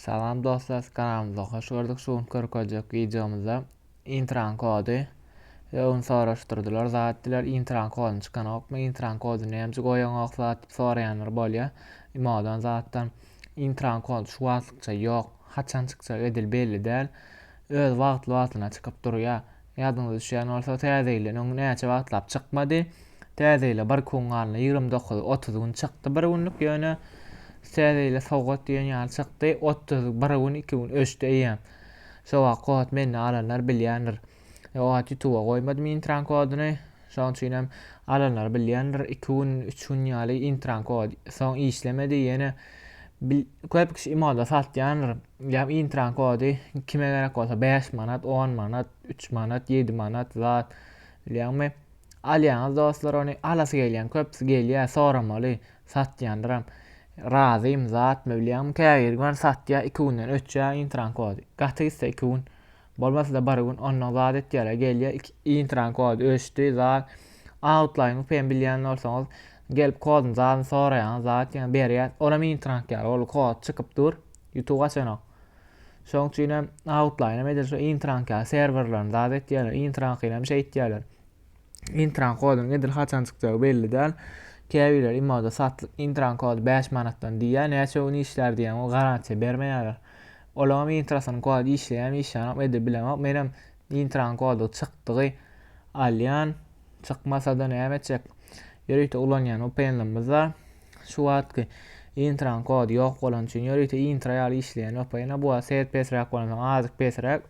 Salam dostlar, kanalymyza hoş gördük. Şu gün görkezjek wideomyzda intran kody we onu soraşdyrdylar. Zat diler intran koduny çykanokmy? Intran koduny näme goýanok zat diýip soraýanlar bolýar. Imodan zatdan intran kod şu wagtlykça ýok. Haçan çykjak edil belli däl. Öz wagtly wagtyna çykyp durýar. Ýadyňyza düşýän bolsa, Täze ýyl öň näçe wagtlap çykmady. Täze ýyla bir kun galna ýigrimi dokuz, otuz gün çykdy bir günlük, ýöne Täze ýyla sowgat diýen ýaly çykdy. Otuz bir gün, iki gün öçdi eýýäm. Şo wagt kod mende alanlar bilýändir. O wagt ýutuba goýmadym intran kodyny. Şonuň üçin hem alanlar bilýändir, iki gün, üç gün ýaly intranko, soň işlemedi, ýene bil, köp kişi imoda satýandyr. Ýa intran kody kime gerek bolsa 5 manat, 10 manat, 3 manat, 7 manat zat. Bilýäňmi? Alýaňyz dostlar ony, alasy gelýän köpüsi gelýär, soramaly, satýandyram. Razym zatmy bilýäňmi? Käbir gün satýar, iki günden öçýär intran kody. Gaty gitse iki gün. Bolmasa-da bir gün onnoň zat etýär-ä, gelýär, iki, intran kod öçdi, zat, autlaýyň upem bilýän bolsaňyz, gelip koduny, zadyny soraýaňyz, zat ýene berýär, ol hem intrank ýaly, ol kod çykyp dur, ýutup açanok. Şoň üçin hem autlaýyn hem edil şu intrank ýaly, serwerleriň zat etýärler, intrankyny hem şeýtýärler. Intran kodyň edil haçan çykjagy belli däl. Käbirler imoda satlyk intran kody 5 manatdan diýýär, näçe gün işlär diýýän o garantiýa bermeýärler. Olaňam intrasynyň kody işleýärmi işleýänok edil bilemok. Menem intran kody çykdygy alýan. Çykmasada näme etjek? Ýörite ulanýan VPN-lerimiz bar. Şu wagtky intran kody ýok bolan üçin ýörite intra ýaly işleýän VPN-a bu wagt set pesräk bolansoň azyk pesräk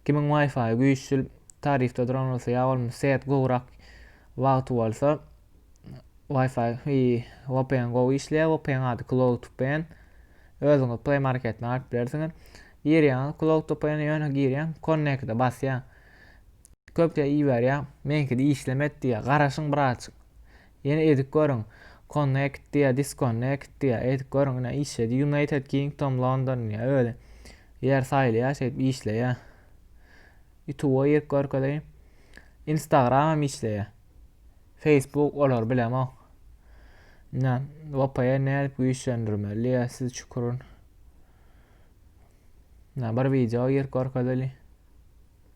Kimiň wifi güýçlil tarifde duran bolsa ýa bolmasa set gowrak wagty bolsa wifi i vpn gowy işleýär vpn ady cloudvpn özüňiz play marketden alyp bilersiňiz girýäňiz cloudvpn ýöne girýäň connect'e basýaň köp iberýär meňkide işlemet diýýär garaşyň birazjyk Ýene edik görüň. Connect diýýä, disconnect diýýä. Edik görüň ine işledi. United Kingdom London diýýä öli. Ýer saýlaýa şeýdip işleýä. Youtube-a girip görkezeýin. Instagram hem işleýä. Facebook olar bilemok. Ine VPN nädip güýçlendirmeli diýýä siz çukurun. Ine bir wideo girip görkezeýin.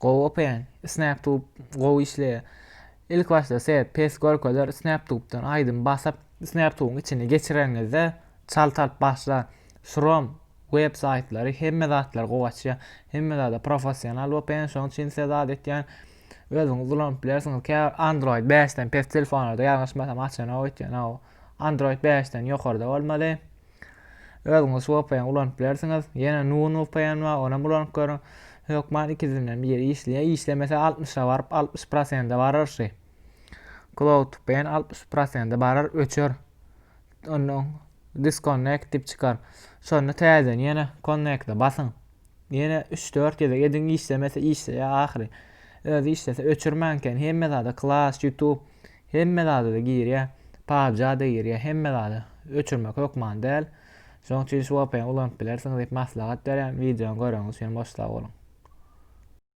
Gowy open. Snaptube gowy işleýär. Ilk başda size pes görkezer Snaptube'dan aýdym basyp Snaptube'yň içine geçireniňizde çalt alyp başlar. Şuram web saýtlary hemme zatlary gowy açýar. Hemme zada professional open şoň üçin size zat etýän özüňiz ulanyp bilersiňiz. Käbir Android bäşden pes telefonlarda ýalňyşmasam açanok öýtýän aw. Android bäşden ýokarda bolmaly. Özüňiz şu VPN ulanyp bilersiňiz. Ýene Nun VPN bar, onam ulanyp görüň. Hökman ikisinden biri işleýär. Işlemese 60-a baryp 60 prosende barar şu. Cloud VPN 60 prosende barar, öçer. Ondan disconnect dip çykar. Şonda täzeden ýene connect-e basyň. Ýene 3-4 gezek ediň işlemese işleýär ahyry. Özi işlese öçürmäň eken. Hemme zada Clash, YouTube Hemme zada-da girýä. Pubg-da girýä, hemme zada. Öçürmek hökman däl. Şonuň üçin şu vpn ulanyp bilersiňiz diýip maslahat berýän. Wideony göreňiz üçin hem boş sag boluň.